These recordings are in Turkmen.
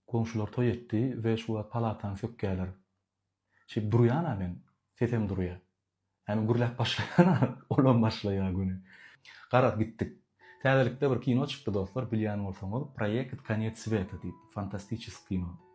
Goňşular toý etdi we şu wagt palatany sökýärler. Şeýdip durýan-a men, sesem durýar. Ýagny gürläp başlaýan-a, olam başlaýar göni. Garaz, gitdik. Täzelikde bir kino çykdy, dostlar, bilýän bolsaňyz, Proekt Konec Sweta diýip, fantastiçesk kino.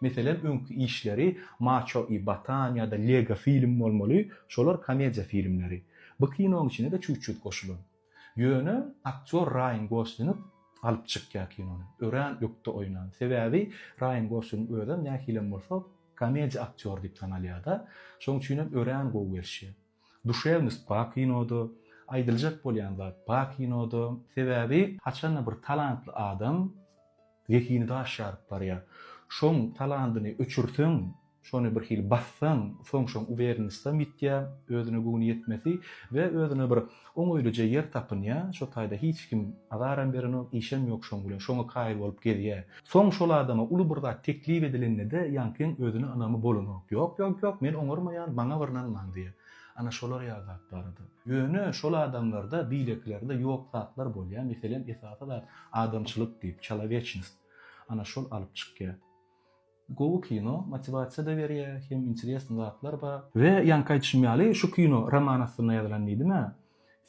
Meselem öňki işleri Maço i Batan ýa-da Lego film bolmaly, şolar komediýa filmleri. Bu kinonyň içine-de çüt-çüt goşulan. Ýöne aktýor Raýan Goslink alyp çykýar kinony. Örän ökde oýnan. Sebäbi Raýan Goslink özem nähilem bolsa komediýa aktýory diýip tanalýar-da. Şonuň üçinem örän gowy gelişýär. Duşewnost bar kinoda, aýdyljak bolýan zat bar kinoda. Sebäbi haçanda bir talantly adam zehini daş ýaryp barýar. Şoň talantyny öçürseň, şony bir hili bassaň, soň şoň uwernistam ýitýär, özüne göwni ýetmesi we özüne bir Oň öýlüje ýer tapynýa, şo taýda hiç kim azaram berenok, işem ýok şoň bilen, şoňa kaýyl bolup gezýä. Soň şol adama uly bir zat teklip edilende-de ýaňkyň özüne ynamy bolanok. Ýok, ýok, ýok, men oňarmaýan, maňa bir ynanmaň diýýä. Ana şolar ýaly zat barada. Ýöne şol adamlarda, beýlekilerde ýok zatlar bolýa, meselem, esasy zat adamçylyk diýip, çalowecnost. Ana şol alyp çykýa. Gowy kino, motiwasiýada berýä, hem interesn zatlar bar. We ýaňky aýdyşym ýaly şu kino roman astynda ýazylan diýdimä,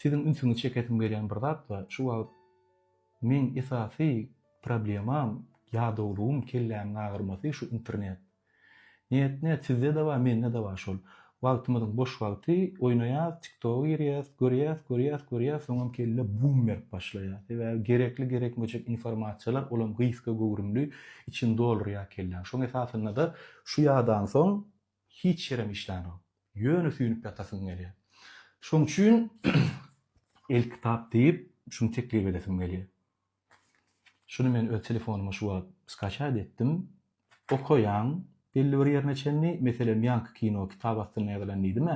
siziň ünsüňizi çekesim gelýän bir zatda şu wagt meň esasy problemam, ýadawlygym, kellämiň agyrmasy şu internet. Net net sizde-de bar, mende-de bar şol. Wagtymyzyň boş wagty oýnaýas tiktoga girýäs görýäs görýäs görýäs soňam kelle bum berip başlaýar sebäbi gerekli gerekmejek informasiýalar olam gysga göwrümli içini doldurýar kelläň şoň esasynada şu ýadan soň hiç ýerem işlänok ýöne süýnüp ýatasyň gelýär şoň üçin elkitap diýip şuny teklip edesim gelýär. Şuny men öz telefonuma şu wagt skaçat etdim. Okaýan, belli bir ýerine çenli, meselem, ýaňky kino kitap astynda ýazylan diýdim-ä,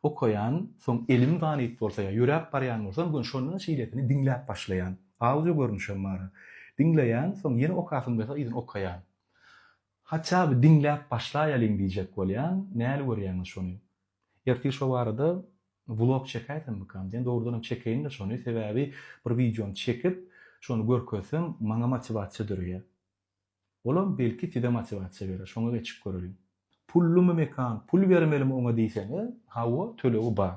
okaýan, soň elim zanyp bolsa ýa ýöräp barýan bolsam, gön şonda-da şeýlesini diňläp başlaýan. Audio görnüşem bar-a. Diňleýän, soň ýene okasym gelse yzyny okaýan. Haçaby diňläp başlaýalyň diýjek bolýan, näl görýäňiz şony? Ertir şo barada vlog çekäýsemmikam diýen, dogrudanam çekeýin-de şony, sebäbi bir wideony çekip, şony görkezsem, maňa motiwasiýa döreýär. Olam belki size motiwasiýa berer, şoňa geçip göreliň. Pullumy mekan, pul bermelimi oňa diýseňiz, hawa, tölegi bar.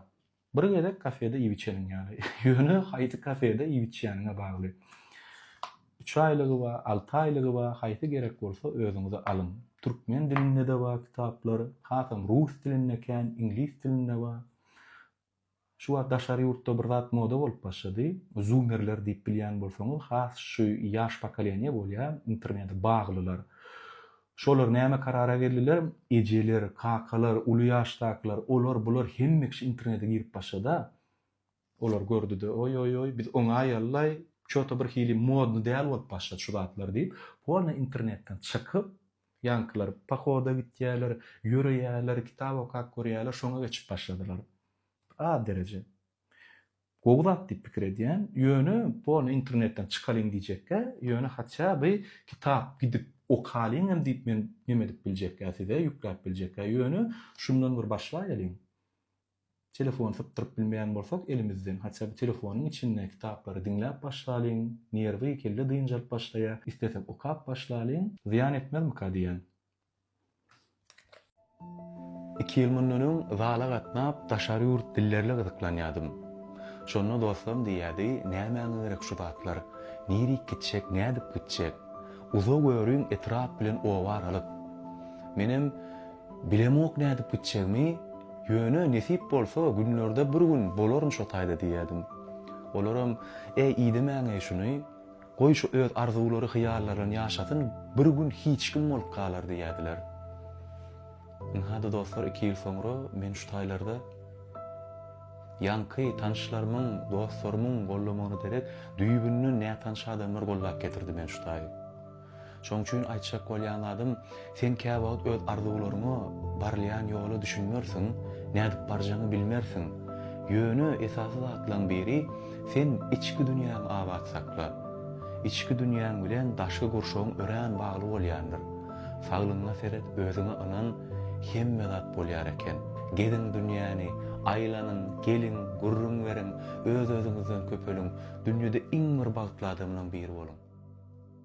Bir gezek kafede iýip-içeniň ýaly. Ýöne haýsy kafede iýip-içýäniňe bagly. Üç aýlygy bar, alty aýlygy bar, haýsy gerek bolsa özüňize alyň. Türkmen dilinde-de bar kitaplar, hasam rus dilinde kän, iňlis dilinde bar. Şu wagt daşary ýurtda bir zat moda bolup başlady. Zumerler diýip bilýän bolsaňyz, has şu ýaş pokoleniýa bolýar, internete baglylar. Şolar näme karara geldiler, ejeler, kakalar, uly ýaşdakylar, olar, bular hemme kişi internete girip başlada. Olar gördi-de, oý-oý-oý, biz oňaýaly-laý, ço-to bir hili modny däl bolup başlady şu zatlar diýip, polny internetden çykyp, ýaňkylar pohoda gitýäler, ýöreýäler, kitap okap görýäler, şoňa geçip başladylar. Az dereje. Gowy zat diýip pikir edýän, ýöne bu ony internetden çykalyň diýjekkä, ýöne haçja by kitap gidip okalyň hem diýip men neme edip biljekkä size, ýükläp biljekkä, ýöne şundan bir başlaýalyň. Telefony sypdyryp bilmeýän bolsak elimizden, haçja by telefonyň içinde kitaplary diňläp başlalyň, nerwi, kelle dynjalyp başlaýa, islesek okap başlalyň, zyýan etmezmika diýän. Iki ýyl mundan öň zala gatnap, daşary ýurt dillerle gyzyklanýadym. Şonda dostlarym diýýärdi, Nämäňe gerek şu zatlar? Nirik gitjek, nädip gitjek? Uza görüň, etrap bilen oba aralyk. Menem, Bilemok nädip gitjegimi, ýöne nesip bolsa, günlerde bir gün bolaryn şo taýda diýýärdim. Olaram, Äý, idemäň-eý şuny, Goý şu öz arzuwlary hyýallaryn ýaşasyn bir gün hiç kim bolup galar diýädiler. Ynha-da dostlar iki ýyl soňra men şu taýlarda ýaňky tanyşlarymyň, dostlarymyň gollamagyna derek düýbünden nätanyş adamlar gollap getirdi men şu taýy. Şoň üçin aýtjak bolýan zadym, sen käwagt öz arzuwlaryňa, barylýan ýola düşünmersiň, nädip barjagyňy bilmersiň. Ýöne esasy zatlaryň biri, sen içki dünýäňi abat sakla. Içki dünýäň bilen daşky gurşawyň örän bagly bolýandyr. Saglygyňa seret, özüňe ynan, hemme zat bolýar eken. Geziň dünýäni, aýlanyň, geliň, gürrüň beriň, öz-özüňizden köpeliň, dünýede iň bir bagtly adamlaryň biri boluň.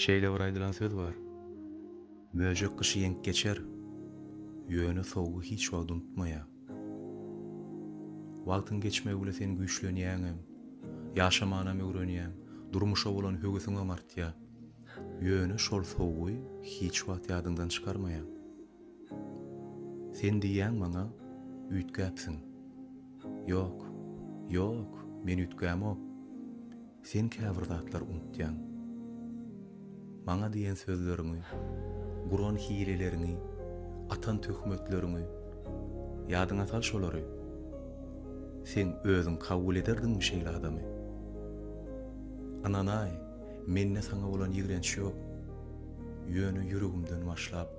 Şeýle bir aýdylan söz bar, Möjek gyşy ýeňip geçer, ýöne sowugy hiç wagt unutmaýar. Wagtyň geçmegi bile sen güýçlenýäňem, ýaşamanam öwrenýäň, durmuşa bolan höwesiňem artýar. Ýöne şol sowugy hiç wagt ýadyňdan çykarmaýaň. Sen diýýäň maňa, üýtgäpsiň. Ýok, ýok, men üýtgämok. Sen käbir zatlar unutýaň. Maňa diýen sözleriňi, guran hileleriňi, atan töhmetleriňi, ýadyňa sal şolary. Sen özüň kabul ederdiňmi şeýle adamy? Ynanaý, mende saňa bolan ýigrenç ýok. Ýöne ýüregimden başlap,